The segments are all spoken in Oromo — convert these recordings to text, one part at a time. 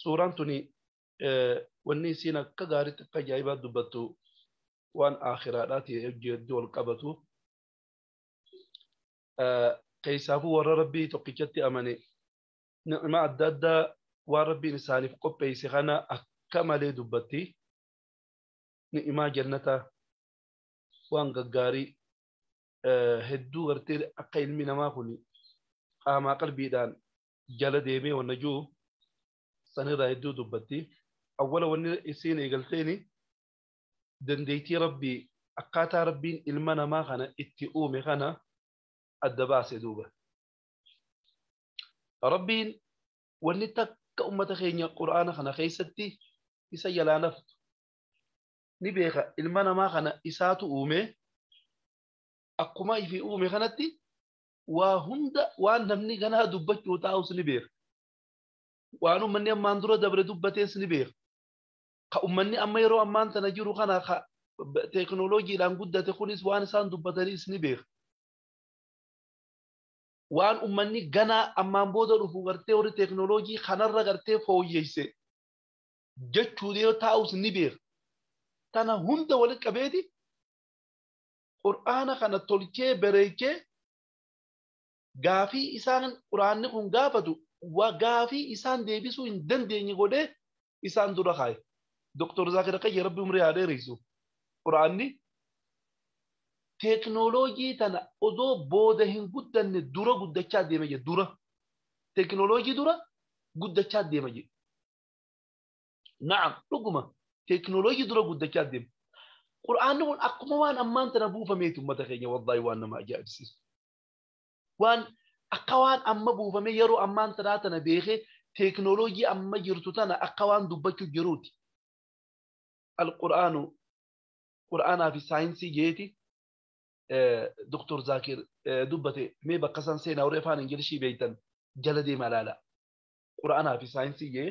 suuraan tuni wanni isiin akka gaariitti akka ajaa'ibaa dubbattu waan aakhiraadhaati hedduu wal qabatu. Keessaafuu warra rabbii tokkichatti amane ni'imaa adda addaa waan rabbiin isaaniif qopheesse kana akka malee dubbatti. Ni'imaa jannataa waan gaggaarii hedduu gartee akka ilmi namaa kun qaamaa qalbiidhaan jala deemee wanna juu sanirraa hedduu dubbatti awwala wanni isiin eegalteeni dandeeytii rabbii akkaataa rabbiin ilma namaa kana itti uume kana adda baase duuba rabbiin wanni takka ummata keenya qur'aana kana keessatti isa jalaa naftu ni beeka ilma namaa kana isaatu uume akkuma ifi uume kanatti waa hunda waan namni ganaa dubbachuu taa'us ni beeka. Waan ummanni ammaan dura dabre dubbatees ni beeka. Ka ummanni amma yeroo ammaan tana jiru kana ka teekinooloojiidhaan guddate kunis waan isaan dubbatanis ni beeka. Waan ummanni ganaa ammaan booda dhufu gartee warri teekinooloojii kanarra gartee fooyyeyse jechuu yoo taa'us ni beeka. Tana hunda walitti qabeeti Qur'aana kana tolchee bareechee gaafii isaan Qur'aanni kun gaafatu wa gaafii isaan deebisuu hin dandeenye godhee isaan dura kaaye. Doktor Zaakir Akkayya Rabbi umrii haa dheereysu. Qur'aanni teeknooloojii tana odoo booda hin guddanne dura guddachaa deema jedhe dura. Teeknooloojii dura guddachaa deema jedhe. Na'am dhuguma teekinooloojii dura guddachaa deema. Qur'aanni kun akkuma waan ammaan tana buufameeti uummata keenya wallaahi waan nama ajaa'ibsiisu. Waan akka waan amma buufame yeroo ammaan tanaa tana beekee teekinooloojii amma jirtu tana akka waan dubbachuu jiruuti. Al-Qur'aanu Qur'aanaa fi saayinsii jeeti Dr. Zaakir dubbate mee bakka isaan seenaa warri afaan Ingilishii beektan jala deemaa ilaala. Qur'aanaa fi saayinsii jee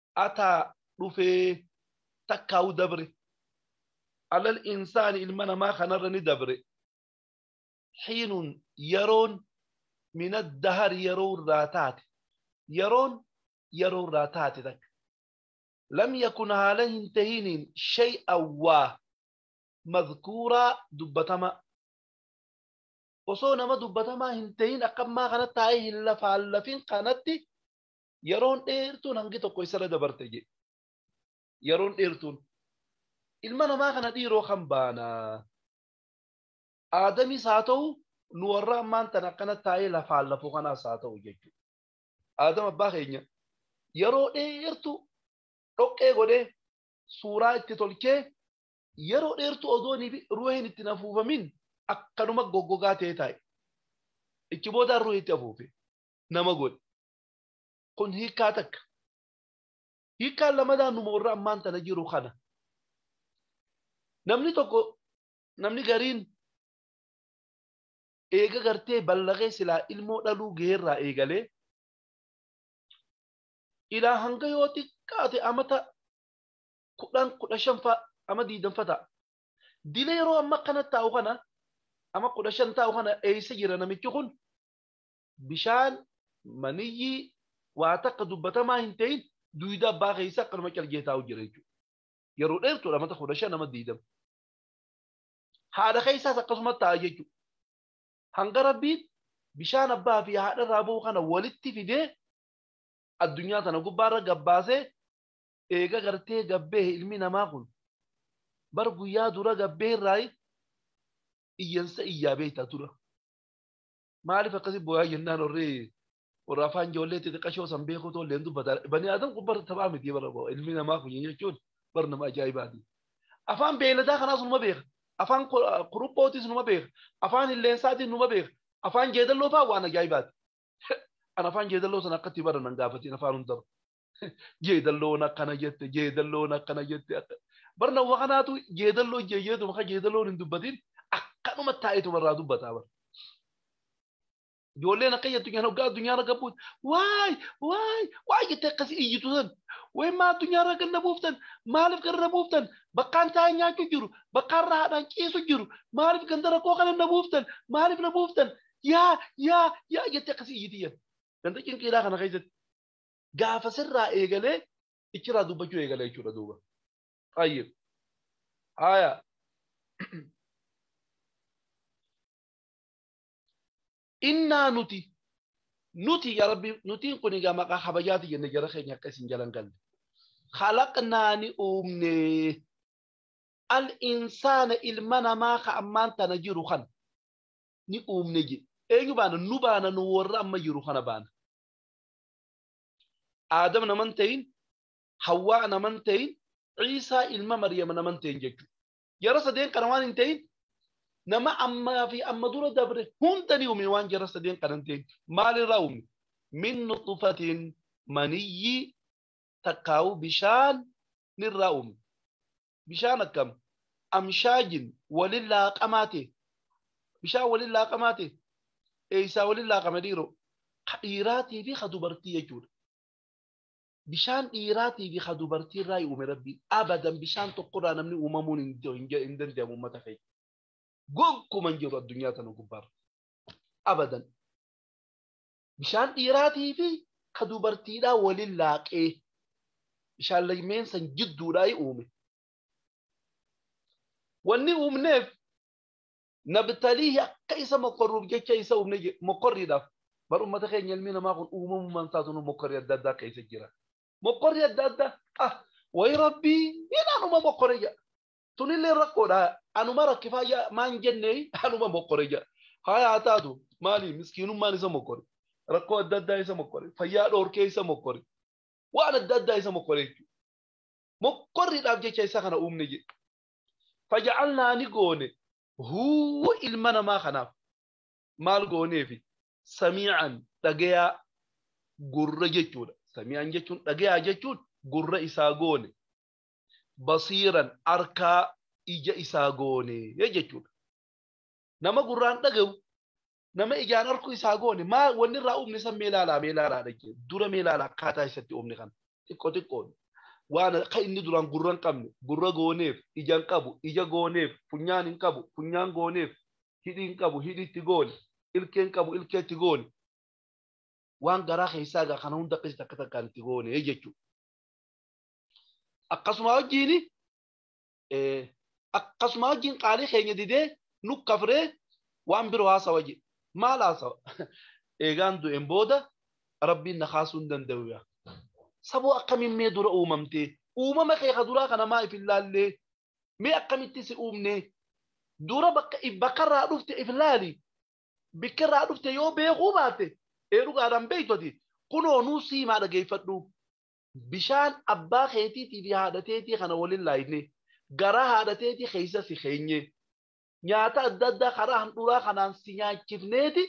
ataa dhufee takkaa'u dabre alal insaani ilma namaa kanarra ni dabre xiinun yeroon min addahari yeroo irraa taate yeroon yeroo irraa taate takka lam yakun haala hin tahiniin shay'an waa madhkuuraa dubbatamaa osoo nama dubbatamaa hin tahin akkammaa kana taa'ee hin lafaallafin kanatti Yeroon dheertuun hangi tokko isarra dabarte jedhe. Yeroon dheertuun. Ilma namaa kana dhiiroo kan baanaa. Aadamis haa ta'u nu warra ammaan tan akkana taa'ee lafaan lafuu kanaas haa ta'u jechuudha. Aadam abbaa keenya yeroo dheertu dhoqqee godhee suuraa itti tolchee yeroo dheertu odoon ruuhiin itti afuufamin akkanuma goggogaa ta'ee taa'e. Ichi booda ruuhi itti afuufe nama godhe. Kun hiikkaa takka. Hiikkaan lamadaa numa warra ammaan tana jiru kana. Namni tokko namni gariin eega gartee ballagee silaa ilmoo dhaluu geerraa eegalee ilaa hanga yoo xiqqaate amata kudhan kudha shanfa ama diidanfa ta'a. Dila yeroo amma akkana taa'u kana ama kudha shan taa'u kana eessa jira namichi kun bishaan maniyyii waa takka dubbatamaa hin ta'in duyda abbaa keessa akkanuma calgee taa'u jira jechuudha. Yeroo dheertuudha mata kudha shan nama diidama. Haadha keessaas akkasuma taa'a jechuudha. Hanga rabbiin bishaan abbaa fi haadha irraa ba'u kana walitti fidee addunyaa tana gubbaarra gabbaasee eega gartee gabbee ilmi namaa kun bar guyyaa dura gabbee irraa iyyansa iyyaa beektaa tura. Maaliif akkasi booyaa jennaan warri warra afaan ijoollee xixiqqashoo san beekuu tollee hin dubbata. Bani Adam kun bara taphaa miti bara boo ilmi namaa kun jechuun bara nama ajaa'ibaati. Afaan beeyladaa kanaas numa beeka. Afaan kuruphootis numa beeka. Afaan hilleensaatis numa beeka. Afaan jeedalloo fa'aa waan ajaa'ibaati. An afaan jeedalloo sana akkatti bara nan gaafatiin afaan hundarra. jeedalloon akkana jette jeedalloon akkana jette akka barna ufa kanaatu jeedalloo jeeyeetu maka jeedalloon hin dubbatin akkanuma taa'etu barraa dubbataa bara. Ijoolleen akka jettu nyaan hoggaa addunyaa irra gabbuut waay waay waay jettee akkasii iyyitu san wayi maa addunyaa irra ganna buuftan maaliif ganna buuftan bakkaan taa'ee nyaachuu jiru bakkaan rahaadhaan ciisu jiru maaliif ganda rakkoo kana na buuftan maaliif na buuftan yaa yaa yaa jettee akkasii iyyiti jedhu ganda cinqiidhaa kana keessatti gaafasirraa eegalee ichirraa dubbachuu eegala jechuudha duuba. Tayyib. Haaya. Innaa nuti nuti yaa rabbi nutiin kun egaa maqaa kabajaati jenne jara keenya akka isin jalan galle. Khalaqnaa ni uumne al insaana ilma namaa ka ammaan tana jiru kan ni uumne jedhe. Eenyu baana nu baana nu warra amma jiru kana baana. Aadam nama hin ta'in, Hawwaa nama hin ta'in, Ciisaa ilma Maryam nama hin ta'in jechuudha. Jara sadeen kana waan hin ta'in nama ammaa fi amma dura dabre hunda ni uume waan jara sadeen kana hin ta'in. Maalirraa uume? Min nuxufatiin maniyyii takkaa'uu bishaan nirraa uume. bishaan akkam amshaajin walin laaqamaa ta'e bishaan walin laaqamaa ta'e eeysaa walin laaqame dhiiroo ka dhiiraatii fi ka dubartii jechuudha. Bishaan dhiiraatii fi ka dubartii irraa uume rabbii abadan bishaan tokkorraa namni uumamuun hin danda'amu uummata keenya. Gonkuman jiru addunyaa tana gubbaarra. Abadan. bishaan dhiiraatii fi ka dubartiidhaa waliin laaqee bishaan lameen san jidduudhaa uume. Wanni uumneef nabtaliihi akka isa mokkorruuf jecha isa uumne jedhe mokkorriidhaaf bar ummata keenya ilmi namaa kun uumamummaan isaatu mokkorri adda addaa keessa jira. Mokkorri adda addaa ah wayi rabbii jedhaanuma mokkore jedha. tunillee rakkoodha anuma rakkifaa ja maan jennee anuma mokkore ja haya haa taatu maali miskiinummaan isa mokkore rakkoo adda addaa isa mokkore fayyaa dhoorkee isa mokkore waan adda addaa isa mokkore jechuudha mokkorriidhaaf jecha isa kana uumne jedhe faja'alnaa ni goone huu ilma namaa kanaaf maal gooneefi samii'an dhagayaa gurra jechuudha samii'an jechuun dhagayaa jechuun gurra isaa goone basiiran arkaa ija isaa goone jechuudha. Nama gurraan dhagahu nama ijaan arkuu isaa goone maa wanni irraa uumne san mee laalaa mee laalaa dhagge dura mee laalaa akkaataa isatti uumne kana xiqqoo xiqqoon waan akka inni duraan gurra hin qabne gurra gooneef ija hin qabu ija gooneef funyaan hin qabu funyaan gooneef hidhii hin qabu hidhii itti goone ilkee hin qabu ilkee itti goone waan garaa keessaa egaa kana hunda akkasitti akka takkaan itti goone jechuudha. akkasuma wajjiin akkasuma wajjiin qaalii keenya didee nu kafree waan biroo haasawa jedhe maal haasawa eegaan du'een booda rabbiin na kaasuu hin danda'u yaa saboo akkamiin mee dura uumamtee uumama kee ka duraa kana maa if hin laallee mee akkamitti si uumnee dura bakka bakkarraa dhufte if laali bakkarraa dhufte yoo beekuu baatte ee dhugaadhaan beektoti kunoo nuu siimaa dhageeffadhu Bishaan abbaa keetiitii fi haadha teetii kana wal hin laaynee? Garaa haadha teetii keessa si keenyee? Nyaata adda addaa karaa handhuuraa kanaan si nyaachifneeti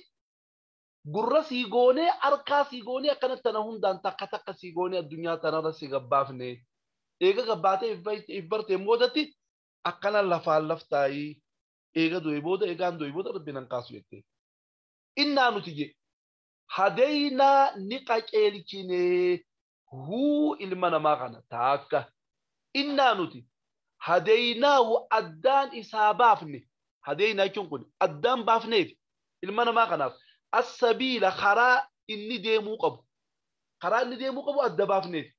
gurra sii goonee, harkaa sii goonee akkana tana hundaan takka takka sii goonee addunyaa tanarra si gabbaafnee? Eega gabbaatee if barteen boodatti akkana lafaan laf taa'ii eega du'ee booda eegaan du'ee booda Rabbiin hin kaasu jettee? Innaa nuti jee. hadeynaa ni qaceelchine huu ilma namaa kana taakka innaa nuti hadeynaahu addaan isaa baafne hadeynaa jechuun kun addaan baafneefi ilma namaa kanaaf assabiila karaa inni deemuu qabu karaa inni deemuu qabu adda baafneefi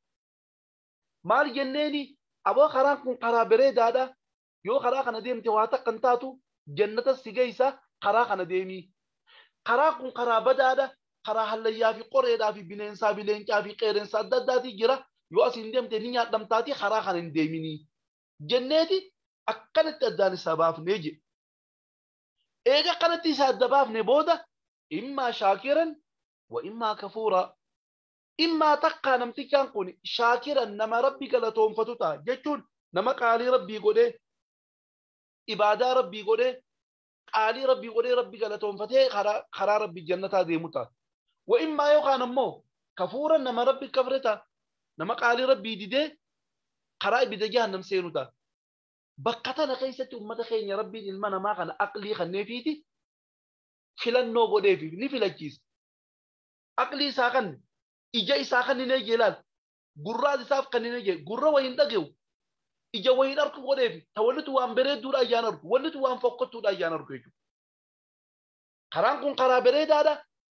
maal jenneeni aboo karaan kun karaa bereedaadha yoo karaa kana deemte waa takka hin taatu jannatas si geeysa karaa kana deemii karaan kun karaa badaadha karaa hallayyaa fi qoreedhaa fi bineensaa fi leencaa fi qeerensa adda addaatii jira yoo asiin deemte ni nyaadhamtaatii karaa kana hin deeminii jenneeti akkanatti addaan isaa baafnee jedhe. Eega kanatti isa adda baafne booda immaa shaakiran wa immaa kafuuraa. Immaa takkaa namtichaan kuni shaakiran nama Rabbi galatoonfatu ta'a. Jechuun nama qaalii Rabbii godhee, ibaadaa Rabbii godhee, qaalii Rabbii godhee Rabbi galatoonfatee karaa karaa Rabbi jannataa deemu ta'a. Wa immaa yookaan ammoo kafuuran nama Rabbi kafre ta'a. Nama qaalii Rabbii didee karaa ibidda jahannam seenu ta'a. Bakka tana keessatti ummata keenya Rabbiin ilma namaa kana aqlii kanneefiiti filannoo godheefi ni filachiisa. Aqlii isaa kanne. Ija isaa kanninee jee laal. Gurraas isaaf kanninee jee. Gurra wa hin dhage'u. Ija wa hin arku godheefi. Ta wanni tun waan bereedduudha ayyaan argu. Wanni tun waan fokkottuudha ayyaan argu jechuudha. Karaan kun karaa bereedaadha.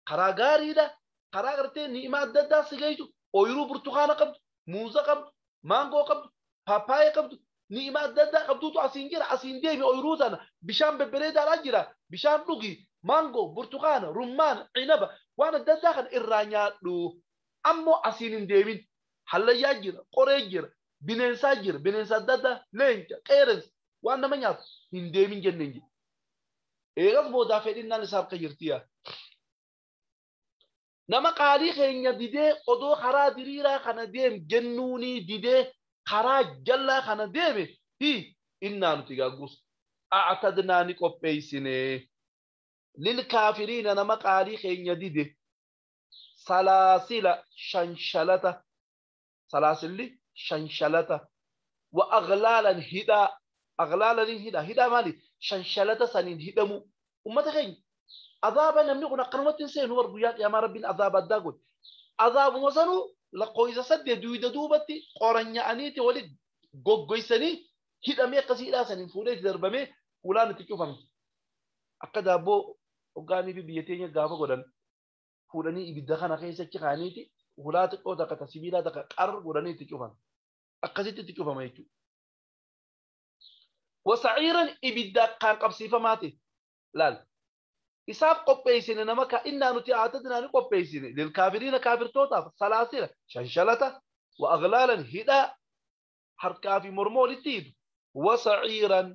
Karaa gaariidha. Karaa gartee ni'imaa adda addaa si geessu. Ooyiruu burtukaana qabdu. muuza qabdu maangoo qabdu paappaayee qabdu ni'ima adda addaa qabduutu asiin jira asiin deemi ooyiruu sana bishaan bebbereedaadhaan jira bishaan dhugi maangoo burtukaana rummaana cinaba waan adda addaa kana irraa nyaadhu ammoo asiin hin deemin hallayyaa jira qoree jira bineensaa jira bineensa adda addaa leenca qeerensa waan nama nyaatu hin deemin jenneen jira eegas boodaa fedhinnaan isaaf kan jirtiyaa Nama qaalii keenya didee odoo karaa diriiraa kana deem jennuunii didee karaa jallaa kana deeme hii innaa nuti gaagguus a'tadnaa ni qopheessine lil kaafiriina nama qaalii keenya dide salaasila shanshalata salaasilli shanshalata wa aghlaalan hidhaa aghlaalaniin hidhaa hidhaa maali shanshalata saniin hidhamuu ummata keenya azaaba namni kun akkanumatti hin seenu bar guyyaa qiyaamaa rabbiin azaaba addaa godhe azaabuma sanuu lakkoofsa saddeet duyda duubatti qoranya'aniiti wali goggoysanii hidhamee akkasii hidhaa saniin fuudhee itti darbamee fuulaan itti cufame akka daabboo hoggaanii fi biyya teenya gaafa godhan fuudhanii ibidda kana keessa achi kaa'aniiti hulaa xiqqoo takka ta sibiilaa takka qar godhanii itti cufan. Akkasitti itti cufama jechuudha. Wasa'iiran ibidda akkaan qabsiifamaa ta'e laal. Isaaf qopheessine nama ka innaa nuti aatadinaa ni qopheessine lilkaafiriina kaafirtootaaf salaasila shanshalata wa aglaalan hidhaa harkaa fi morma walitti hidhu wasa'iiran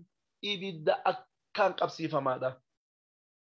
ibidda akkaan qabsiifamaadha.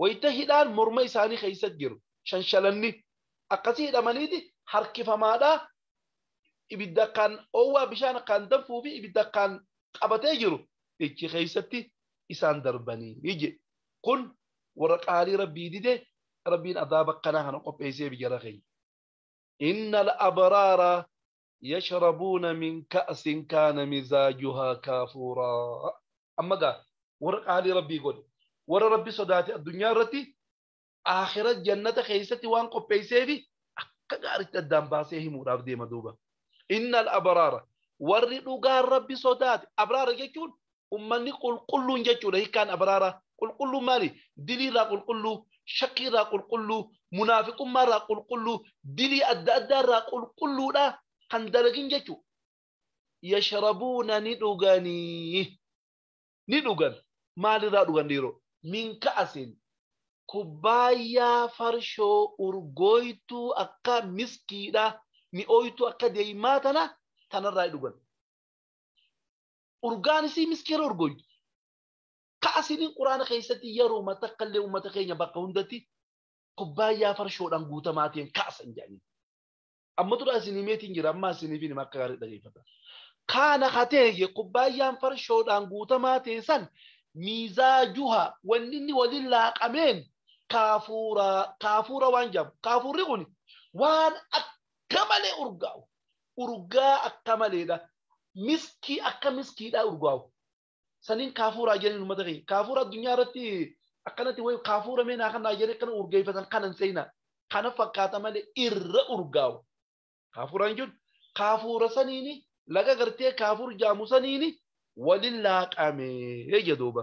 wayita hidhaan morma isaanii keessa jiru shanshalanni akkasii hidhamaniiti harkifamaadhaa ibidda akkaan oowwaa bishaan akkaan danfuu fi ibidda akkaan qabatee jiru ichi keessatti isaan darbanii jedhe kun warra qaalii rabbii dide rabbiin adaaba akkanaa kana qopheessee bijara keenya. Inna al-abraara yashrabuuna min ka'sin kaana mizaajuhaa kaafuuraa amma gaa warra qaalii rabbii godhe warra rabbi sodaate addunyaa irratti aakhira jannata keessatti waan qopheesseefi akka gaaritti addaan baasee himuudhaaf deema duuba innal abraara warri dhugaan rabbi sodaate abraara jechuun ummanni qulqulluun jechuudha hikkaan abraaraa qulqulluun maali dilii irraa qulqulluu shakkii irraa qulqulluu munaafiqummaa irraa qulqulluu dilii adda addaa irraa qulqulluudha kan dalagin jechuu yashrabuuna ni dhuganii ni dhugan maal irraa dhugan dhiiroo min ka'asin kubbaayyaa farshoo urgooytuu akka miskiidha mi'ooytuu akka deeymaa tana tanarraa dhugan urgaanisii miskiina urgoyyi. Ka asiniin quraana keessatti yeroo takka illee uummata keenya bakka hundatti kubbaayyaa farshoodhaan guutamaa ta'een kaasan jedhanii. Amma tura asinii meetiin jira amma asiniif hin akka gaarii dhageeffata. Kaana ka ta'e kubbaayyaan farshoodhaan guutamaa ta'e san miizaa juha wanni inni waliin laaqameen kaafuura kaafuura waan jedhamu. Kaafuurri kun waan akka malee urgaa'u. urgaa akka maleedha miskii akka miskiidha urgaa'u saniin kaafuuraa jedhanii uummata keenya kaafuura addunyaa irratti akkanatti wayi kaafuura mee naa kanaa jedhee akkana urgeeffatan kanan seenaa kana fakkaata malee irra urgaa'u kaafuuraan jechuun kaafuura saniini laga gartee kaafuur jaamu saniini waliin laaqamee jedhuuba.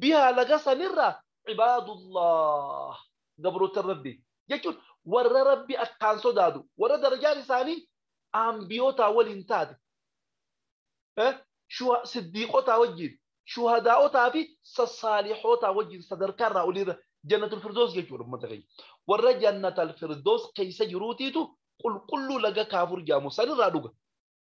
bihaa laga sanirraa cibaadullah gabroottan rabbi jechuun warra rabbi akkaan sodaatu warra darajaan isaanii aanbiyootaa waliin taate siddiiqotaa wajjiin shuhadaa'otaa fi sassaalihootaa wajjiin sadarkaa irraa oliirra jannatul firdoos jechuudha ummata keenya warra jannatal firdoos keessa jiruutiitu qulqulluu laga kaafur jaamu sanirraa dhuga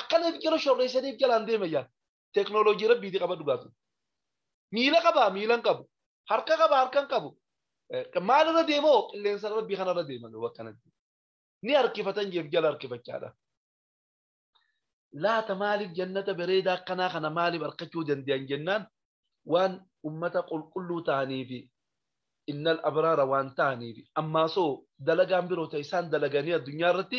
Akkana jala shorreessaniif jalaan deema yaa. Teknooloojii rabbiiti qaba dhugaatu. Miila qabaa miilan qabu. Harka qabaa harkan qabu. Maalirra deemoo qilleensa rabbii kanarra deema yoo akkanatti. Ni harkifatan jeef jala harkifachaadha. Laata maaliif jannata bareedaa akkanaa kana maaliif harkachuu danda'an jennaan waan ummata qulqulluu ta'anii fi innal abraara waan ta'anii fi ammaasoo dalagaan biroo ta'e isaan dalaganii addunyaa irratti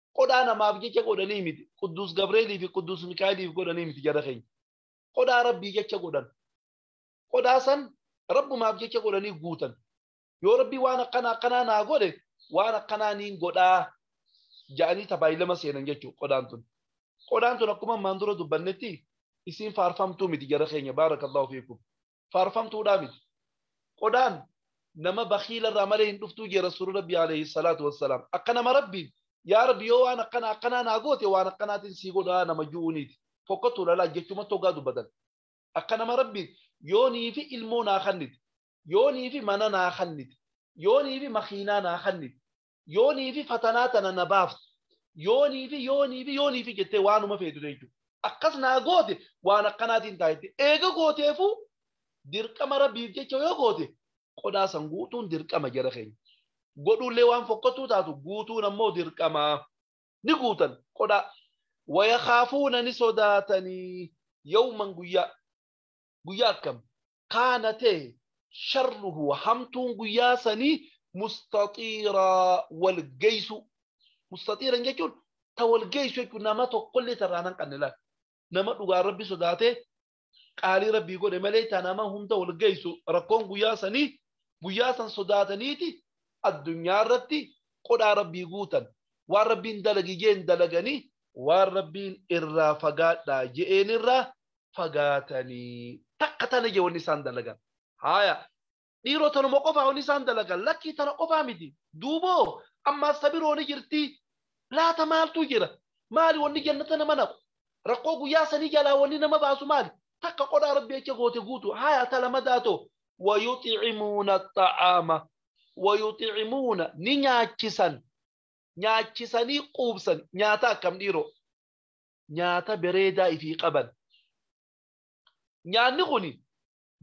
Qodhaa namaaf jecha godhanii miti. Qudduus Gabreelii fi Qudduus Mikaa'eliif godhanii miti jara keenya. Qodhaa Rabbii jecha godhan. Qodhaa san Rabbumaaf jecha godhanii guutan. Yoo Rabbi waan akkana akkanaa naa godhe waan akkanaa niin godhaa ja'anii tabaayilama seenan jechuudha qodhaan tun. Qodhaan tun akkuma ammaan dura dubbannetti isiin faarfamtuu miti jara keenya baarakallahu fiikum. faarfamtuudhaa miti. Qodaan nama bakiila irraa malee hin dhuftuu jee rasuulli rabbii alayhi salaatu wassalaam. Akka nama rabbiin yaa rabbi yoo waan akkanaa akkanaa naa goote waan akkanaatiin sii godhaa nama ju'uuniiti. Fokkottuu lalaa jechumatti hoggaa dubbatan. Akka nama rabbiin yoonii fi ilmoo naa kannite. Yoonii fi mana naa kannite. Yoonii fi makiinaa naa kannite. Yoonii fi fatanaa tana na baaftu. Yoonii fi yoonii fi yoonii fi jettee waanuma feetu jechuudha. Akkas naa goote waan akkanaatiin ta'a jettee. Eega gooteefuu dirqama rabbiif jecha yoo goote qodaa san guutuun dirqama jara keenya. Godhuullee waan fokkottuu taatu guutuun ammoo dirqama. Ni guutan qodaa. Wayakaafuuna ni sodaatanii yawman guyyaa. Guyyaa akkam? kaana ta'e sharruhu hamtuun guyyaa sanii mustaxiiraa wal geessu mustaxiiran jechuun ta wal geessu jechuun nama tokkollee tarraa nan qabne laal nama dhugaa rabbi sodaatee qaalii rabbii godhe malee ta nama hunda wal geessu rakkoon guyyaa sanii guyyaa san sodaataniiti addunyaa irratti qodhaa rabbii guutan waan rabbiin dalagi jeen dalaganii waan rabbiin irraa fagaadhaa je'een irraa fagaatanii takka tana ija wanni isaan dalagan haaya dhiiroo tanuma qofaa wanni isaan dalagan lakkii tana qofaa miti duuboo ammaas tabiroo ni jirti laata maaltu jira maali wanni jannata nama naqu rakkoo guyyaa sanii jalaa wanni nama baasu maali takka qodhaa rabbi jecha goote guutu haaya talamadaa too wayuximuuna xa'aama wayuximuuna ni nyaachisan nyaachisanii quubsan nyaata akkam dhiiroo nyaata bereedaa ifii qaban. Nyaanni kuni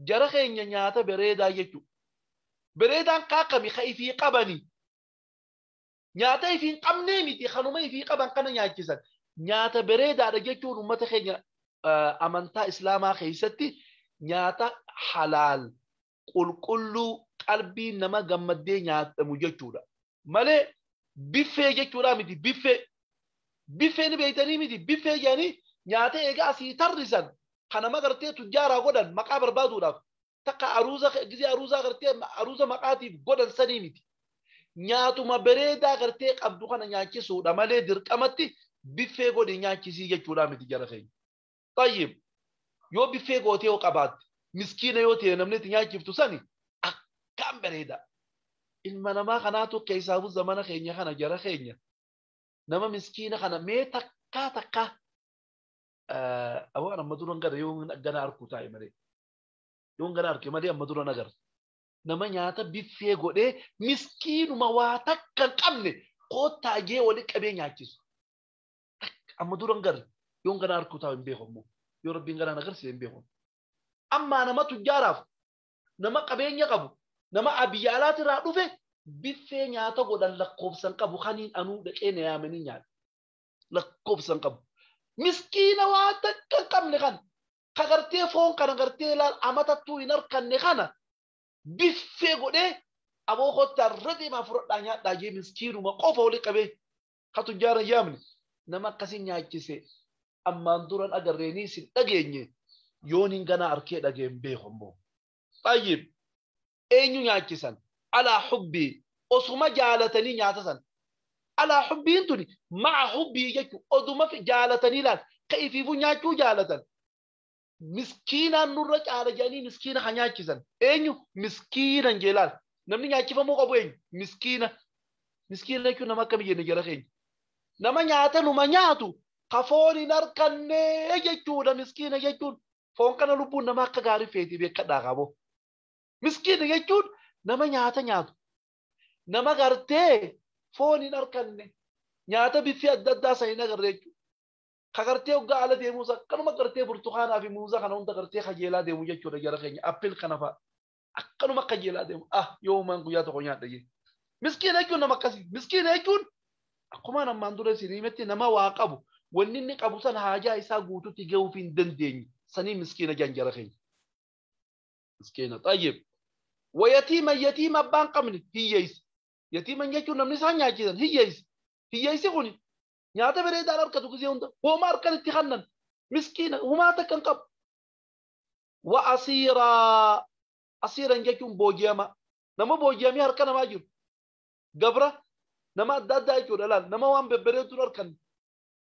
jara keenya nyaata bereedaa jechuudha. Bereedaan kaa kami ka ifii qabani. Nyaata ifii hin qabnee miti kanuma ifii qaban kana nyaachisan. Nyaata bereedaadha jechuun uummata keenya amantaa Islaamaa keessatti nyaata halaal qulqulluu qalbiin nama gammaddee nyaatamu jechuudha. Malee biffee jechuudha miti biffee. Biffee ni beektanii miti biffee jedhanii nyaata egaa asii tarrisan kan nama gartee tujjaaraa godhan maqaa barbaaduudhaaf takka aruuza gisee aruuzaa gartee aruuza maqaatiif godhan sanii miti. Nyaatuma bareedaa gartee qabdu kana nyaachisuudha malee dirqamatti biffee godhi nyaachisii jechuudha miti jara keenya. Xayyib. Yoo biffee gootee yoo qabaatte miskiina yoo ta'e namni itti nyaachiftu sani akkaan bareeda. Ilma namaa kanaatu keessaafuu zamana keenya kana jara keenya nama miskiina kana mee takkaa takkaa waan amma duran gara yoo gana arkuu taa'e malee yoo gana arke malee amma duran agarra. Nama nyaata biffee godhee miskiinuma waa takka hin qabne koottaa jee wali qabee nyaachisu. amma duran gari yoon ganaa harkuu taa'u hin beeku ammoo yoo rabbiin ganaa na garsiise hin beeku ammaa nama tujjaaraaf nama qabeenya qabu nama abiyya alaati irraa dhufe biffee nyaata godhan lakkoofsan qabu kaniin anuu dhaqee na yaamanii nyaata lakkoofsan qabu miskiina waa takka hin qabne kan ka gartee foon kana gartee laal amatattuu hin harkanne kana biffee godhee aboo kottaa irra deemaa fudhadhaa nyaadhaa jee miskiinuma qofa wali qabee ka tujjaara yaamne nama akkasii nyaachise ammaan duran agarreenii sin dhageenye yooniin ganaa arkee dhageen beeku ammoo. Xayyib eenyu nyaachisan alaa hubbii osuma jaalatanii nyaata san alaa hubbiin tuni ma'a hubbii jechu oduma jaalatanii laal ka ifiifuu nyaachuu jaalatan miskiinaan nurra caala jedhanii miskiina kan nyaachisan eenyu miskiina hin jeelaal namni nyaachifamuu qabu eenyu miskiina miskiina jechuun nama akkami jenne jara keenya nama nyaata numa nyaatu ka foon hin arkanne jechuudha miskiina jechuun foon kana lubbuun nama akka gaarii feeti beekadhaa qabo miskiina jechuun nama nyaata nyaatu nama gartee foon hin arkanne nyaata biffii adda addaa san hin agarre jechuudha. Ka gartee hoggaa ala deemuus akkanuma gartee burtukaanaa fi muuza kana hunda gartee kajeelaa deemu jechuudha jara keenya appil kana fa'a. Akkanuma kajeelaa deemu ah yoo uumaan guyyaa tokko nyaadha jee. Miskiina jechuun nama akkasii. Miskiina jechuun akkumaan ammaan dura isin himetti nama waa qabu wanni inni qabu san haajaa isaa guututti gahuuf hin dandeenye sanii miskiina jaan jara keenya. Miskiina xayyib. Wayatiima yatiima abbaan qabne hiyyeessa. Yatiiman jechuun namni isaan nyaachisan hiyyeessa. Hiyyeessi kuni nyaata bereedaan harkatu gizee hunda hooma harkan itti kannan miskiina humaa takkan qabu wa asiiraa asiiran jechuun booji'amaa nama booji'amee harka namaa jiru gabra nama adda addaa jechuudha laal nama waan bebbereeduun harkan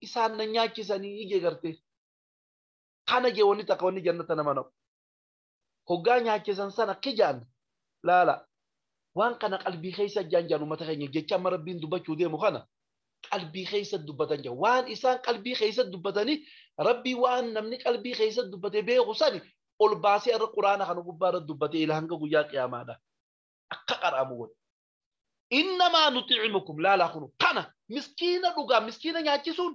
isaan na nyaachisanii ije gartee kana jee wanni takka wanni jannata nama naqu hoggaa nyaachisan sana kijaan laala waan kana qalbii keessa jaan jaan ummata keenya jecha amma rabbiin dubbachuu deemu kana qalbii keessa dubbatan jira waan isaan qalbii keessa dubbatanii rabbii waan namni qalbii keessa dubbate beeku sani ol baasee irra quraana kana gubbaa irra dubbate ila hanga guyyaa qiyaamaadha akka qaraamu godhe innamaa nuti'imukum laalaa kunu kana miskiina dhugaa miskiina nyaachisuun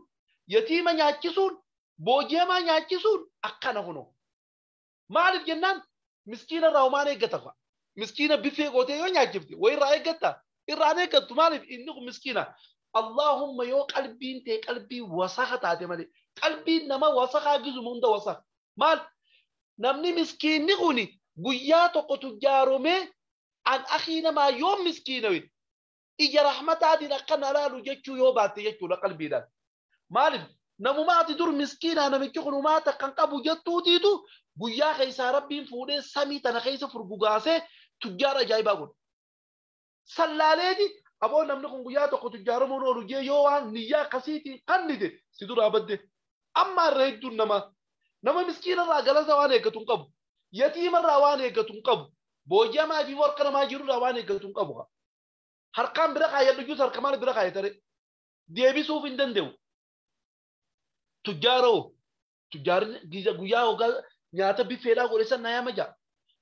yatiima nyaachisuun booji'amaa nyaachisuun akkana kunu Maaliif jennaan miskiina irraa homaan eeggatafa. Miskiina biffee gootee yoo nyaachifte wayi irraa eeggatta irraa hin eeggattu maaliif inni kun miskiina. Allaahumma yoo qalbiin tee qalbii wasaka taate malee qalbiin nama wasakaa gizuma hunda wasaka. Maal namni miskiinni kun guyyaa tokko tujjaaromee an akii namaa yoo miskiinawe ija rahmataatiin akka na laalu jechuu yoo baatte jechuudha qalbiidhaan. Maaliif namuma ati dur miskiinaa namichi kun umaa takka hin qabu jettuutiitu guyyaa keessaa rabbiin fuudhee samii tana keessa furgugaasee tujjaara ajaa'ibaa godhe. Sallaaleeti aboo namni kun guyyaa tokko tujjaaramuun oolu jee yoo waan niyyaa akkasiitiin kannite si duraa badde. Amma irra hedduun namaa nama miskiinarraa galata waan eeggatu hin qabu. Yatiimarraa waan eeggatu hin qabu. Booji'amaa fi morka namaa jirurraa waan eeggatu hin qabu. Harkaan bira kaayadhu jus harka maal bira kaayatare. deebisuuf hin danda'u. Tujjaara hoo? Tujjaarri giza guyyaa hoggaa nyaata biffeedhaa godhe san nayama ja'a.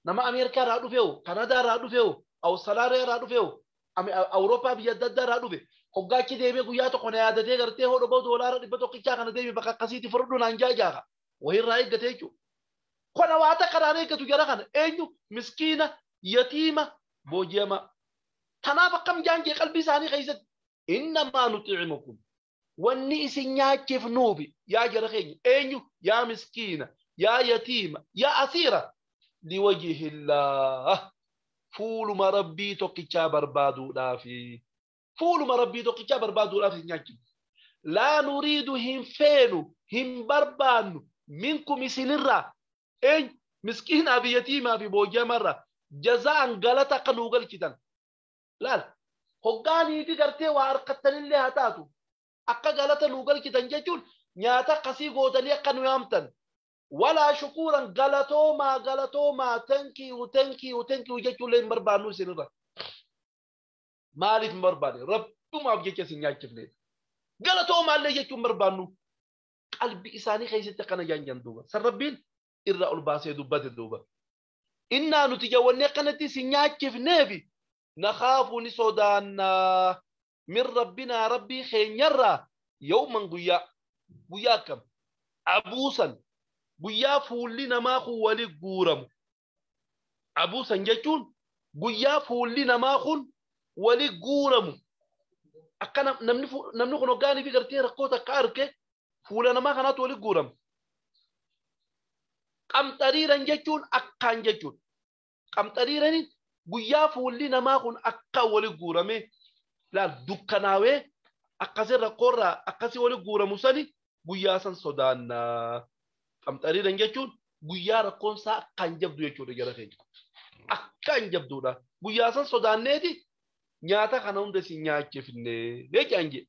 Nama Ameerikaa irraa dhufe hoo? Kanadaa irraa dhufe hoo? Awustaraaliyaa irraa dhufe hoo? Ame- A- Awurooppaa biyya adda addaa irraa dhufe. Hoggaa achi deemee guyyaa tokko na yaadatee gartee hoo dhoboo doolaara dhibba tokkichaa kana deemi bakka akkasiitti furdhu naan ja'a jaaqa. Wayirraa eeggate jechuudha. Kana waa takka irraa hin eeggatu jara kana. Eenyu? Miskiina, yatiima, booji'amaa. Kanaaf akkam jaan jee qalbii isaanii keessatti innamaa nuxi'imukum wanni isin nyaachifnuufi yaa jara keenya eenyu yaa miskiina yaa yatiima yaa asiira liwajihillaah fuuluma rabbii tokkichaa barbaaduudhaafi fuuluma rabbii tokkichaa barbaaduudhaaf isin nyaachifnu laa nuriidu hin feenu hin barbaannu minkum isinirraa eenyu miskiinaa fi yatiimaa fi booji'amarraa jazaan galata akka nuu galchitan laal hoggaa niiti gartee waa harkattanillee haa taatu akka galata nuu galchitan jechuun nyaata akkasii gootanii akka nu yaamtan walaa shukuuran galatoomaa galatoomaa tenkiyu tenkiyu tenkiyu jechuullee hin barbaannu isinirra maaliif hin barbaanne rabbumaaf jecha isin nyaachifneedha galatoomaallee jechuun barbaannu qalbi isaanii keessatti akkana jaanjan duuba san rabbiin irraa ol baasee dubbate duuba Innaa nuti jawwannee akkanatti isin nyaachifneefi nakhaafu ni sodaanna min Rabbinaa Rabbii keenyarraa yawman guyyaa. Guyyaa akkam? Abuusan guyyaa fuulli namaa kun wali guuramu. Abuusan jechuun guyyaa fuulli namaa kun wali guuramu. Akka namni kun hoggaaniifi gartee rakkoo takka arke fuula namaa kanaatu walitti guurama. Qamxariiran jechuun akkaan jechuudha. Qamxariiraniin guyyaa fuulli namaa kun akka wali guurame laal dukkanaawee akkasii rakkoorraa akkasii wali guuramu sani guyyaa san sodaanna. Qamxariiran jechuun guyyaa rakkoon isaa akkaan jabdu jechuudha jara keenya. Akkaan jabduudha. Guyyaa san sodaanneeti nyaata kana hunda isin nyaachifne jechaan jedhe.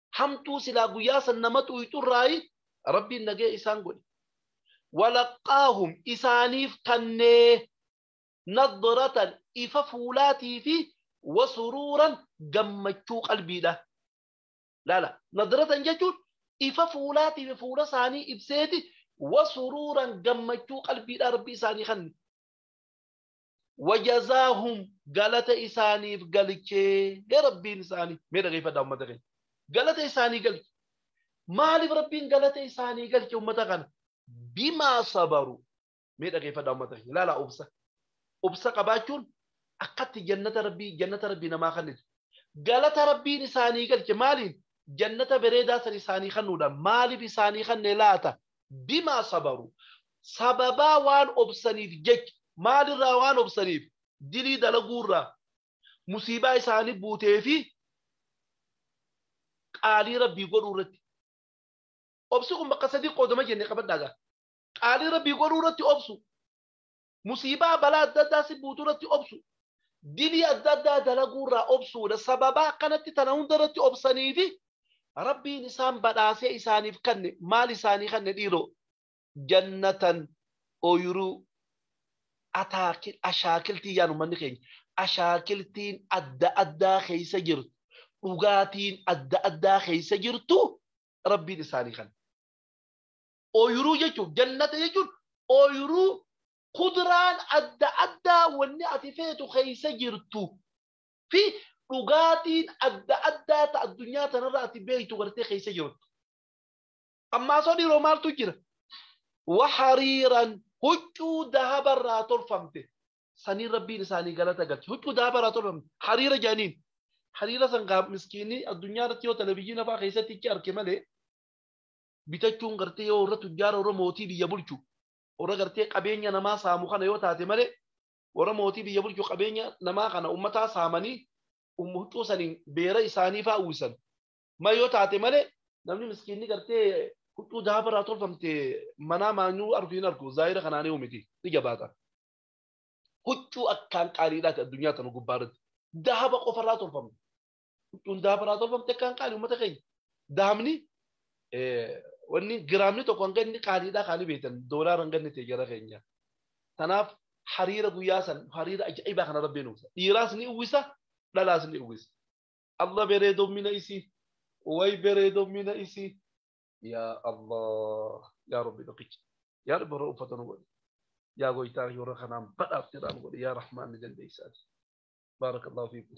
hamtuu silaa guyyaa san nama xuuyxurraayi rabbiin nagee isaan godhe walaqqaahum isaaniif kannee nadratan ifa fuulaatii fi wasuruuran gammachuu qalbiidha laala nadratan jechuun ifa fuulaatii fi fuula isaanii ibseeti wasuruuran gammachuu qalbiidha rabbi isaanii kanne wajazaahum galata isaaniif galchee rabbiin isaanii mee dhageeffadhaa ummata keenya galata isaanii galche maaliif rabbiin galata isaanii galche ummata kana bimaa sabaru mee dhageeffadhaa ummata keenya ilaala obsa obsa qabaachuun akkatti jannata rabbii jannata rabbii namaa kennitu galata rabbiin isaanii galche maaliin jannata bareedaa san isaanii kennuudhaan maaliif isaanii kenne laata bimaa sabaruu sababaa waan obsaniif jecha maalirraa waan obsaniif dilii dalaguurraa musiibaa isaanii buutee fi qaalii rabbii godhuu irratti obsi kun bakka sadii qoodama jenne qabadhaagaa qaalii rabbii godhuu irratti obsu musiibaa balaa adda addaa si buutu irratti obsu dilii adda addaa dalaguu irraa obsuudha sababaa akkanatti tana hunda irratti obsaniifi rabbiin isaan badhaasee isaaniif kanne maal isaanii kanne dhiiroo jannatan ooyiruu ataakil ashaakiltii yaanu manni keenya ashaakiltiin adda addaa keessa jirtu dhugaatiin adda addaa keessa jirtu rabbiin isaanii kanne Ooyiruu jechuun jannata jechuun ooyiruu kuduraan adda addaa wanni ati feetu keessa jirtu fi dhugaatiin adda addaa ta addunyaa tanarra ati beektu gartee keessa jirtu. Ammaa soo dhiiroo maaltu jira? Wahariiran huccuu dahabarraa tolfamte. Saniin rabbiin isaanii galata galche. Huccuu dahabarraa tolfamte. Hariira jaaniin. Hariira san gaa miskiinni addunyaa irratti yoo televizyiina fa'aa keessatti ichi arke malee bitachuun gartee yoo warra tujjaara warra mootii biyya bulchu warra gartee qabeenya namaa saamu kana yoo taate malee warra mootii biyya bulchu qabeenya namaa kana ummataa saamanii um- huccuu saniin beera isaanii faa uwwisan ma yoo taate malee namni miskiinni gartee huccuu daaba irraa tolfamte manaa maanyuu argu hin argu zaahira kanaan yoo miti ni jabaata huccuu akkaan qaaliidhaati addunyaa tana gubbaa irratti daaba qofa irraa tolfamte Hundaa biraa tolfamte kan qaali uummata keenya. Daamni wanni giraamni tokko hanga inni qaaliidhaa kaanii beektan doolaara hanga inni ta'e gara keenya. Kanaaf hariira guyyaa san hariira ajaa'ibaa kana rabbiin uwwisa. Dhiiraas ni uwwisa dhalaas ni uwwisa. Allah bereedommina isii way bereedommina isii yaa Allah yaa rabbi tokkicha yaa rabbi warra uffata nu godhi yaa goytaa warra kanaan badhaafte irraa nu godhi yaa rahmaan ni dandeessaati. Baarakallahu fiikum.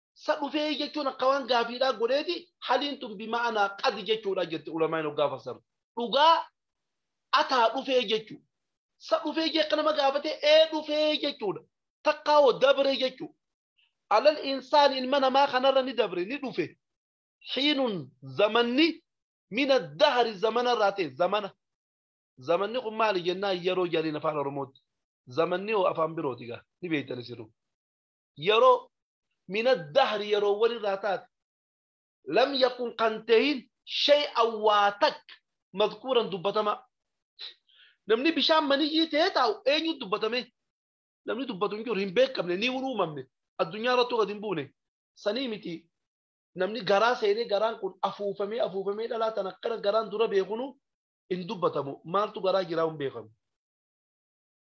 sa dhufee jechuun akka waan gaafiidhaa godheeti haliin tun bima'anaa qad jechuudha jette ulamaan hoggaa fassaru dhugaa ataa dhufee jechuu sa dhufee jee akka nama gaafate ee dhufee jechuudha takkaa hoo dabre jechuu alal insaan ilma namaa kanarra ni dabre ni dhufe hiinun zamanni mina dahari zamana irraa ta'e zamana zamanni kun maali jennaan yeroo jedhaniin afaan oromootti zamanni hoo afaan birooti gaa ni beektan isinuu yeroo min addahri yeroowwan irraa taate lam yakun kan tahin shay'an waa takka madkuuran dubbatamaa namni bishaan maniyyii ta'ee taa'u eenyu dubbatame namni dubbatu hin jiru hin beekamne ni uumamne addunyaa irrattuu gad hin buune sanii miti namni garaa seenee garaan kun afuufamee afuufamee dhalaa tan akkana garaan dura beekunu hin dubbatamu maaltu garaa jiraa hin beekamu.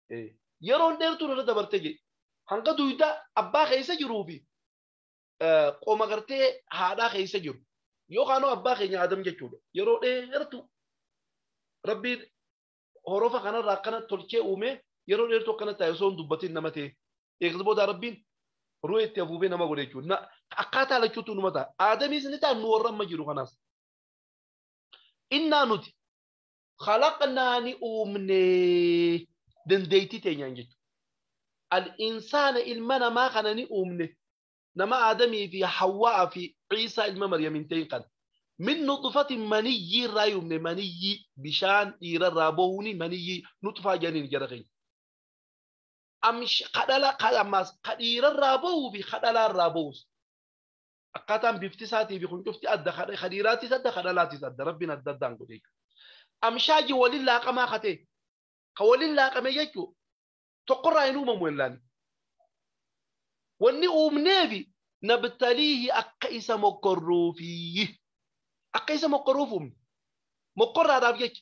Eh. Yeroon dheertuun irra dabarte jedhe. Hanga duyda abbaa keessa jiruu fi eh, qoma gartee haadhaa keessa jiru. Yookaan hoo abbaa keenya Adam jechuudha. Yeroo dheertu rabbiin horofa kanarraa akkana tolchee uumee yeroo dheertu akkana taa'e osoo hin dubbatin nama ta'e. Eegas booda rabbiin ru'ee itti afuufee nama godhe jechuudha. Na- Akkaataa lachuutu numa ta'a. Aadamiis ni ta'a nu warra amma jiru kanaas. Innaa nuti khalaqnaa ni uumne dandeettii teenyaan jechuudha. Al-insaana ilma namaa kana ni uumne nama Aadamii fi Hawwaa fi Ciisaa ilma Maryamiin ta'in kana. Min nuxufatin maniyyii irraa uumne maniyyii bishaan dhiira irraa bahuuni maniyyii nuxufaa jedhaniin jara keenya. Ammaas ka dhiira irraa bahuu fi ka dhalaa irraa bahus. akkaataan bifti isaatii fi kun cufti adda kadha kadhiiraattis adda kadhalaattis adda rabbiin adda addaan godhe jechuudha. Amshaaji waliin laaqamaa katee ka waliin laaqame jechuudha. Tokkorraa hin uumamu illaan. Wanni uumnee fi nabtaliihi akka isa mokkorruufi akka isa mokkorruuf uumne mokkorraadhaaf jecha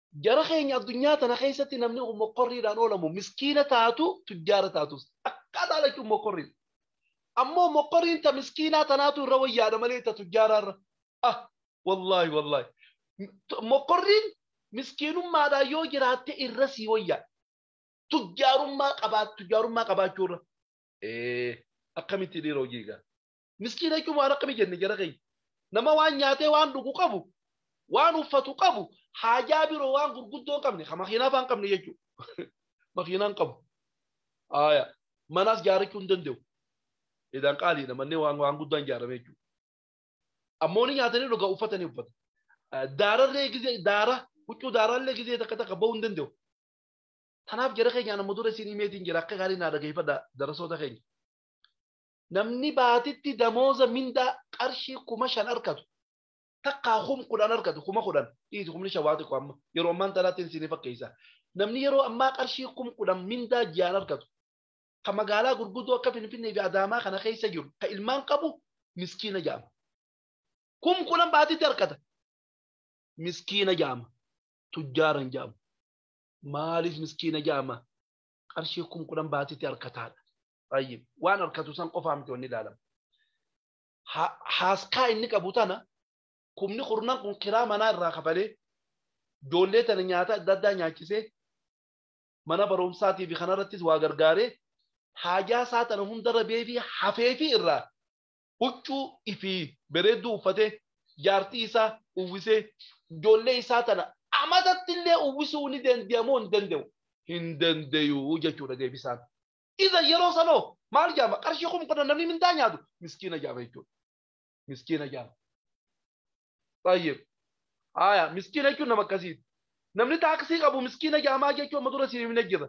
Jara keenya addunyaa tana keessatti namni kun mokkorriidhaan oolamu miskiina taatu tujjaara taatus akka dhaalachuun mokkorriidha. Ammoo mokkorriin ta miskiinaa tanaatu irra wayyaadha malee ta tujjaaraa irra. Ah wallaahi wallaahi. Mokkorriin miskiinummaadhaan yoo jiraatte irra sii wayyaa. Tujjaarummaa qabaat tujjaarummaa qabaachuu irra. Ee akkamitti dhiira hojii egaa. miskiina jechuun waan akkami jenne jara keenya nama waan nyaatee waan dhugu qabu waan uffatu qabu haajaa biroo waan gurguddoo hin qabne ka makiinaa faan qabne jechuudha makiinaa hin qabu haaya manaas jaarachuu hin danda'u edaan qaaliidha manneen waan waan guddaan jaarame jechuudha ammoo ni nyaatanii dhugaa uffatanii uffata daararree gizee daara huccuu daaraallee gizee takka takka ba'uu hin danda'u Kanaaf jara keenya nama dura isin himeetiin jira akka gaarii naa dhageeffadha darasoota keenya. Namni baatitti damooza mindaa qarshii kuma shan arkatu takkaa kum kudhan arkatu kuma kudhan dhiisi kumni shan waa xiqqo amma yeroo ammaan tanaatti hin siinii fakkeessa. Namni yeroo ammaa qarshii kum kudhan mindaa ji'aan arkatu ka magaalaa gurguddoo akka Finfinnee fi Adaamaa kana keessa jiru ka ilmaan qabu miskiina ja'ama. Kum kudhan baatitti arkata miskiina ja'ama. Tujjaara hin ja'amu. Maaliif miskiina ja'ama? Qarshii kum kudhan baatitti arkataadha. Tayyib. Waan harkatu san qofaa miti wanni ilaalamu. Ha- Haaskaa inni qabu tana kumni kurnan kun kiraa manaa irraa kafalee ijoollee tana nyaata adda addaa nyaachisee mana barumsaatii fi kanarrattis waa gargaaree haajaa isaa tana hunda rabee fi hafee fi irraa huccuu fi bareedduu uffatee jaartii isaa uwwisee ijoollee isaa tana amatatti illee uwwisuu ni danda'a moo hin danda'u? Hin danda'u jechuudha deebisaan. Iza yeroo sanoo maal jaama qarshii kum kudhan namni mindaa nyaatu miskiina jaama jechuudha. Miskiina jaama. Baay'ee. Haaya miskiina jechuun nama akkasiiti. Namni taaksii qabu miskiina jaamaa jechuun amma dura siin himne jira.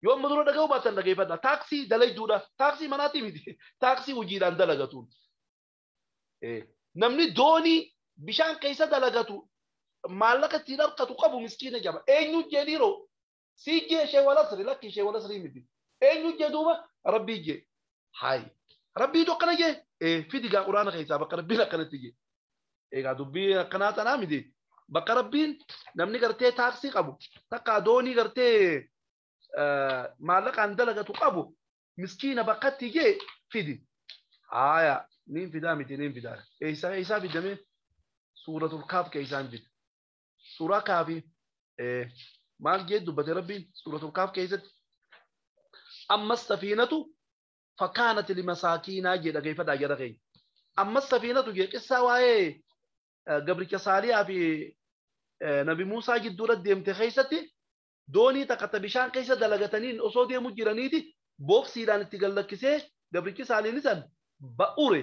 Yoo amma dura dhaga'uu baatan dhageeffadha. Taaksii dalayduudha. Taaksii manaatii miti. Taaksii hojiidhaan dalagatuun. Namni doonii bishaan keessa dalagatu maallaqa ittiin harkatu qabu miskiina jama. Eenyu jedhiiroo Sii jee shee walasri lakki shee walasri miti. Eenyu jee duuba rabbii jee. Haay. Rabbiitu akkana jee. Ee fidi gaa quraana keessaa bakka rabbiin akkanatti jee. Egaa dubbii akkanaa tanaa miti. Bakka rabbiin namni gartee taaksii qabu takka doonii gartee maallaqaan dalagatu qabu miskiina bakkatti jee fidi. Haaya niin fidaa miti niin fidaa. Eessaa eessaa fidamee suuratul kaaf keessaan fida. Suuraa kaafi maal jee dubbate rabbiin suuratul kaaf keessatti ammas safiinatu fakkaanati limasaakiinaa jee dhageeffadhaa jara keenya. Ammas safiinatu jee qissaa waa'ee gabricha saaliyaa fi nabi Muusaa jidduurra deemte keessatti doonii takka ta bishaan keessa dalagataniin osoo deemu jiraniiti booksiidhaan itti gad lakkisee gabrichi saaliini san ba ure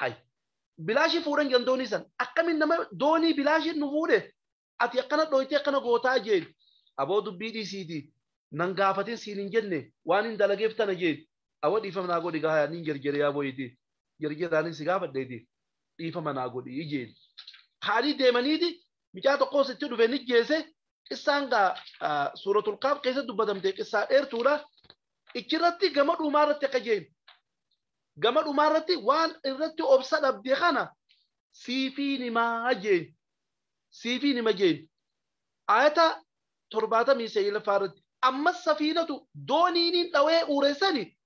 hay bilaashi fuudhan jedhan doonii san akkamiin nama doonii bilaashiin nu fuudhe ati akkana dhooytee akkana gootaa jeen aboo dubbii dhiisiiti nan gaafatin siin hin jenne waan hin dalageef tana jeen awa dhiifama naa godhi gahaa niin jerjere yaa boyiti jerjeraanin si gaafadheeti dhiifama naa godhi jeen kaanii deemaniiti micaa tokkos itti dhufe ni jeese qissaan gaa suuratul kaaf keessa dubbatamte qissaa dheertuudha ichirratti gama dhumaa irratti akka jeen gama dhumaa irratti waan irratti obsa dhabde kana siifii nimaa jeen siifii nima jeen ayata torbaatamii seeyilafaa irratti ammas safiinatu dooniiniin dhawee uureessani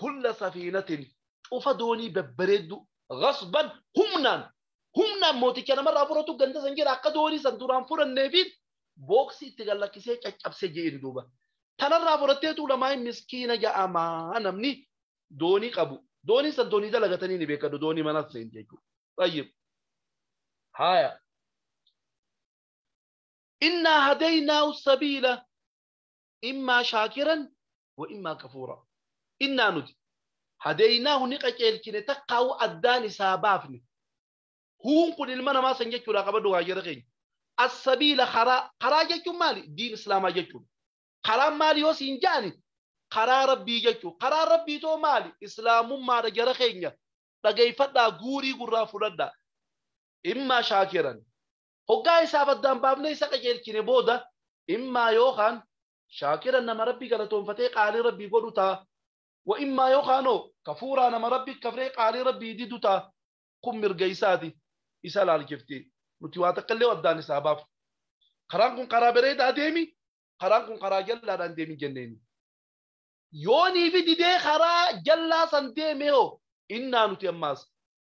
kulla safiinatin cufa doonii babbareedduu ghasban humnaan humnaan mooticha namarraa fudhatu ganda san jira akka doonii san duraan fudhanneefiin booksii itti gallakkisee caccabsee je'een duuba. Tanarraa fudhatteetu lamaa miskiina ja'amaa namni doonii qabu. Doonii san doonii dalagatanii ni beekadhu doonii manas seen jechuudha. Tayyib. Haaya. Innaa hadaynaa sabiila immaa shaakiran wa immaa kafuura innaa nuti hadeeynaahu ni qaceelchine takkaawu addaan isaa baafne huun kun ilma namaa san jechuudha qabadhu gaajara keenya assabiila karaa karaa jechuun maali diin islaamaa jechuudha karaan maali yoo siin ja'ani karaa rabbii jechuu karaa rabbii too maali islaamummaadha jara keenya dhageeyfadhaa guurii gurraa fudhadhaa immaa shaakiran Hoggaa isaaf addaan baafnee isa qajeelchine booda, immaa yookaan shaakiran nama Rabbi galatoonfatee qaalii Rabbii godhu ta'a. Wa immaa yookaan hoo kafuuraa nama Rabbi kafree qaalii Rabbii didu ta'a. Kun mirga isaati. Isa laalchifti. Nuti waa takkallee addaan isa haa baafnu. Karaan kun karaa bareedaa deemi, karaan kun karaa jallaadha hin deemin jenneeni. Yoo niifi didee karaa jallaa san deeme hoo? Innaa nuti ammaas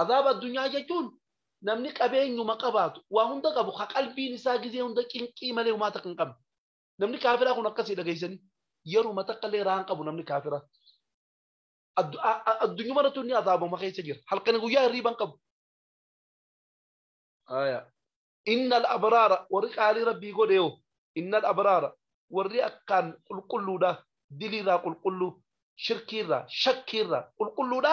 Azaaba addunyaa jechuun namni qabeenyuma qabaatu waa hunda qabu ka qalbiin isaa gizee hunda cinqii malee humaa takka hin qabne. Namni kaafiraa kun akkasii dhageessanii yeruma takka illee raan qabu namni kaafiraa. Addunyuma irratti inni azaabama keessa jira. Halkanii guyyaa hirriiban qabu. Inna al-abraara warri qaalii rabbii godhe yoo inna al-abraara warri akkaan qulqulluudha diliirraa qulqulluu shirkiirraa shakkiirraa qulqulluudha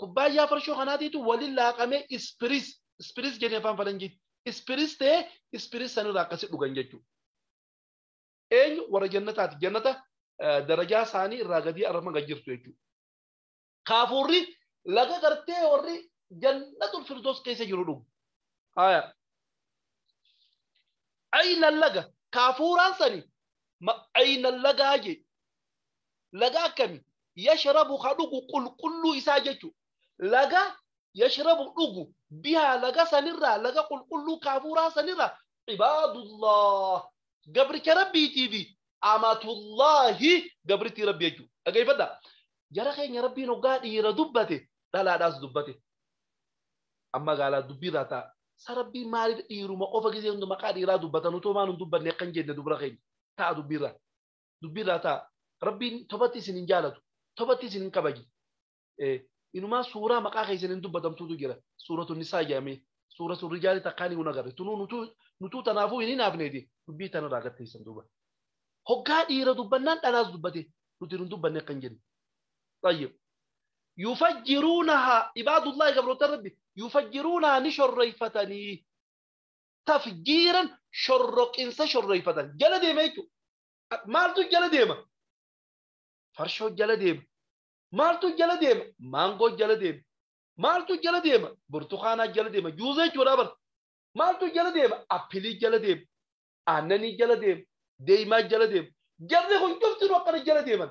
kubbaayyaa farshoo kanaatiitu waliin laaqamee ispiris ispiris jedhee afaan falanjiitti ispiris ta'ee ispiris sanirraa akkasi dhugan jechuudha. Eenyu warra jannataati jannata darajaa isaanii irraa gadii arma gad jirtu jechuudha. Kaafuurri laga gartee warri jannatul firdoos keessa jiru dhugu. Haaya. Ayna laga kaafuuraan sani ayna lagaa jedhe. laga akkami yashrabu ka dhugu qulqulluu isaa jechu laga yashrabu dhugu bihaa laga sanirraa laga qulqulluu kaafuuraa sanirraa cibaadullah gabricha rabbiitii fi amatullaahi gabrittii rabbi jechu dhageeffadha jara keenya rabbiin hoggaa dhiira dubbate dhalaadhaas dubbate amma gaalaa dubbiirraa ta'a sa rabbiin maaliif dhiiruma qofa gisee hundi maqaa dhiiraa dubbatan utuu maan hin dubbanne akkan jenne dubra keenya ta'a dubbiirraa dubbii irraa ta'a rabbiin tobatti isin hin jaalatu tobatti isin hin kabaji inumaa suuraa maqaa keessan hin dubbatamtuutu jira suuratu nisaa jedhamee suura sun rijaali takkaan hin agarre tunuu nutuu tanaafuu hin hinaafneeti dubbii tanarraa gatteessan duuba hoggaa dhiira dubbannaan dhalaas dubbate nuti hin dubbanne akka hin jenne tayyib yufajjiruunahaa ibaadullaahi gabroota rabbi yufajjiruunahaa ni shorreeffatanii tafjiiran shorroqinsa shorreeffatan jala deema jechuudha. Maaltu jala deema? Farshoo jala deema. Maaltu jala deema? Maangoo jala deema. Maaltu jala deema? Burtukaanaa jala deema. Juuza jechuudha bara. Maaltu jala deema? Appilii jala deema. Aannanii jala deema. Deemaa jala deema. Jarri kun cuftinuu akkana jala deeman.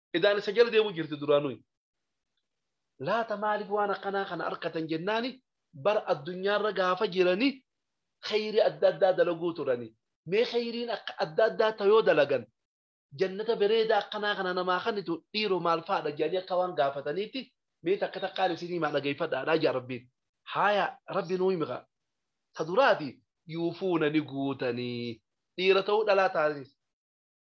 Edaan isa jala deemu jirti duraanuu. Laata maaliif waan akkanaa kana arkatan jennaani bara addunyaarra gaafa jirani kheyrii adda addaa dalaguu turani. Mee kheyriin akka adda addaa ta yoo dalagan jannata bereeda akkanaa kana namaa kanitu dhiiro maal faadha jedhanii akka waan gaafataniitti mee takka takkaan isinii himaa dhageeyfadhaadhaa jedha Rabbiin. Haaya Rabbi nuu himi kaa. Ta duraati yuufuuna ni guutanii. Dhiira ta'uu dhalaa taaniis.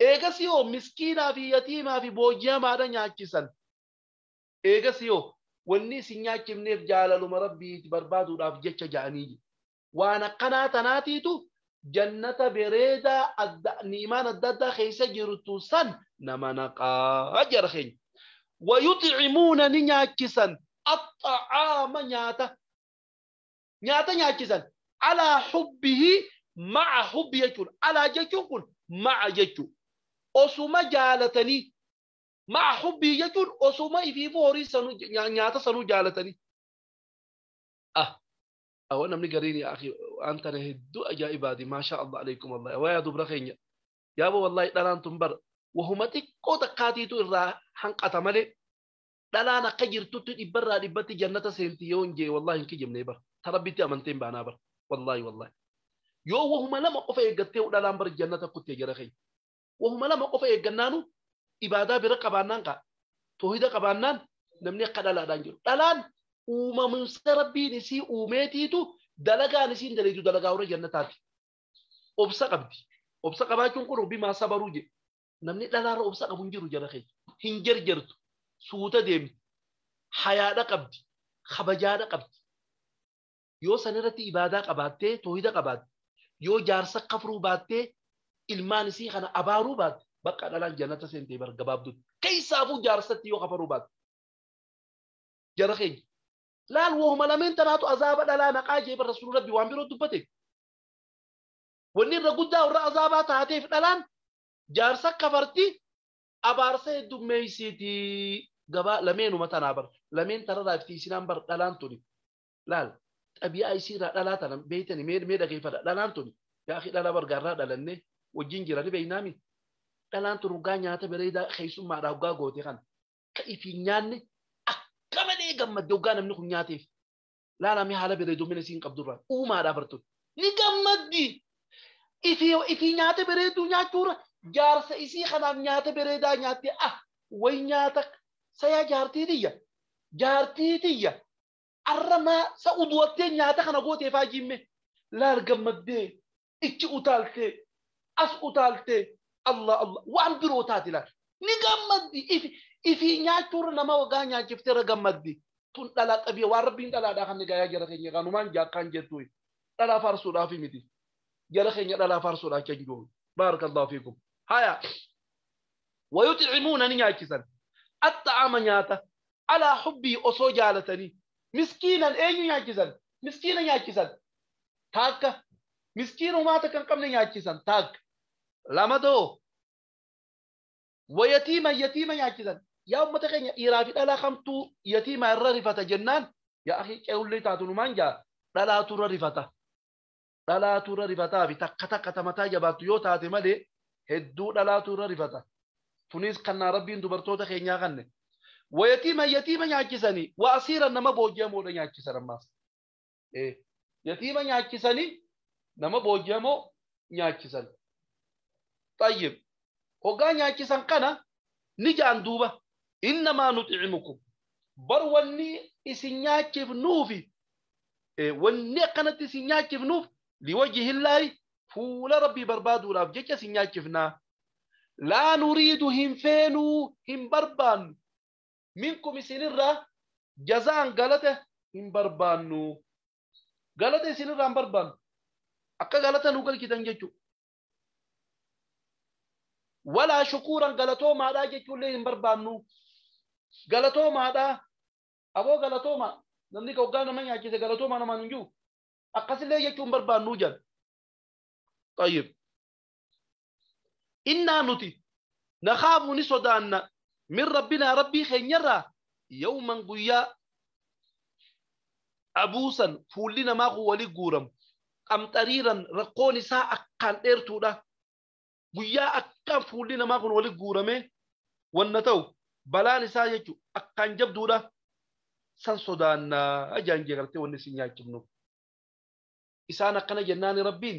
Eegasii hoo miskiinaa fi yatiimaa fi booji'amaadha nyaachisan. Eegasii hoo wanni isin nyaachifneef jaalaluma Rabbiiti barbaaduudhaaf jecha ja'anii je. Waan akkanaa tanaatiitu Jannata bereedaa adda ni'imaan adda addaa keessa jirtu san nama naqaa jara keenya. Wayuxi'imuuna ni nyaachisan axxa'aama nyaata. nyaata nyaachisan alaa hubbihi ma'a hubbi jechuudha alaa jechuun kun ma'a jechuu osuma jaalatanii ma'a hubbii jechuun osuma ifiifuu horii sanuu nya- nyaata sanuu jaalatanii ah awwa namni gariin yaa akhi waan tana hedduu ajaa'ibaati maasha allah alaikum allah awwa yaa dubra keenya yaaba wallahi dhalaan tun bar wahuma xiqqoo takkaatiitu irraa hanqata malee dhalaan akka jirtutti dhibbarraa dhibbatti jannata seenti yoon jee wallahi hin kijibnee bar ta rabbitti amanteen baanaa bar wallahi wallahi yoo wahuma lama qofa eeggattee dhalaan bar jannata kutte jara keenya wahuma lama qofa eeggannaanu ibaadaa bira qabaannaan kaa toohida qabaannaan namni akka dhalaadhaan jiru dhalaan uumamumsa rabbiin isii uumeetiitu dalagaan isiin daleedu dalagaa warra jannataati obsa qabdi obsa qabaachuun kun rabbi maa sabaruu jedhe namni dhalaarra obsa qabu hin jiru jara keenya hin jarjartu suuta deemti hayaadha qabdi kabajaadha qabdi yoo san irratti ibaadaa qabaattee toohida qabaatte yoo jaarsa kafruu baattee ilmaan isii kana abaaruu baatte bakka dhalaan jannata seentee bar gabaabdutti keessaafuu jaarsatti yoo kafaruu baatte jara keenya laal wohuma lameen tanaatu azaaba dhalaa naqaa jee bar rasuulli rabbi waan biroo dubbate Wanni irra guddaa warra azaabaa taateef dhalaan jaarsa kafarti abaarsa heddummeeysiti. Gabaa lameenuma tanaa bar. Lameen tanarraa itti isinaan bar dhalaan tuni. Laal xabiyaa isiirraa dhalaa tana beeytani mee mee dhageeyfadha dhalaan tuni. Yaa akhi dhalaa bar gaarraa dhalannee wajjin jira ni beeynaami. Dhalaan tun hoggaa nyaata bareedaa keeysummaadhaa hoggaa goote kana ka ifiin nyaanne akka malee gammadde hoggaa namni kun nyaateef. Laalaa mee haala bareedoomina isiin qabdu irraa. Uumaadhaa bartuun. Ni gammaddi. Ifii ifii nyaata bareedduu nyaachuurra jaarsa isii kanaaf nyaata bareedaa nyaattee ah way nyaata sayaa jaartii tiyya jaartii tiyya arra maa sa uduwattee nyaata kana gootee faajiimmee laal gammaddee ichi utaaltee as utaaltee Allah Allah waan biroo taati laal ni gammaddi ifi ifii nyaachuurra nama wagaa nyaachiftee irra gammaddi tun dhalaa xabiya waan rabbiin dhalaadhaa kan nigaayaa jara keenya kanumaan jaakkaan jettuu dhalaa faarsuudhaaf miti jara keenya dhalaa faarsuudhaaf kan jiru baarakallahu fiikum haya wayuximuuna ni nyaachisan axxa'ama nyaata alaa hubbii osoo jaalatanii miskiinan eenyu nyaachisan miskiina nyaachisan taakka miskiin homaa takka hin qabne nyaachisan taakka lama too wa yatiima yatiima nyaachisan yaa ummata keenya dhiiraa fi dhalaa kamtuu yatiima irra rifata jennaan yaa akhi ce'ullee taatu numaan jaa dhalaatu irra rifata dhalaatu irra rifataa fi takka takka tamataa jabaattu yoo taate malee hedduu dhalaatu irra rifata tunis kannaa rabbiin dubartoota keenyaa kanne wa yatiima yatiima nyaachisanii wa asiira nama booji'amoodha nyaachisan ammaas Eh, yatiima nyaachisanii nama booji'amoo nyaachisan. Xayyib. Hoggaa nyaachisan kana ni jaan duuba. Innamaa nuxi'imukum. Bar wanni isin nyaachifnuufi. Eh, wanni akkanatti isin nyaachifnuuf liwajihillaahi fuula rabbii barbaaduudhaaf jecha isin nyaachifnaa. Laa nuriidu hin feenuu hin barbaannu. minkum isinirraa jazaan galata hin barbaannu galata isinirraa hin barbaannu akka galata nu galchitan jechuudha. Walaa shukuuran galatoomaadhaa jechuullee hin barbaannu galatoomaadhaa aboo galatoomaa namni hoggaa nama nyaachise galatoomaa namaan hin jiru akkasillee jechuun barbaannuu jedhan. Tayyib. innaa nuti nakhaafu ni sodaanna min rabbinaa rabbii keenyarraa yawman guyyaa abuusan fuulli namaa kun wali guuramu qamxariiran rakkoon isaa akkaan dheertuudha guyyaa akkaan fuulli namaa kun wali guuramee wanna ta'u balaan isaa jechu akkaan jabduudha san sodaannaa ajaan jeegartee wanni isin nyaachifnu isaan akkana jennaani rabbiin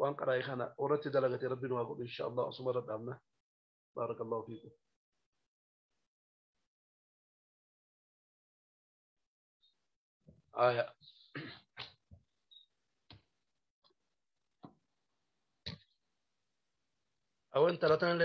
waan qaraa'e kana warratti dalagate rabbi nu haa godhu insha Allah asuma irra dhaabna baarakallahu fiikum aya awan talatan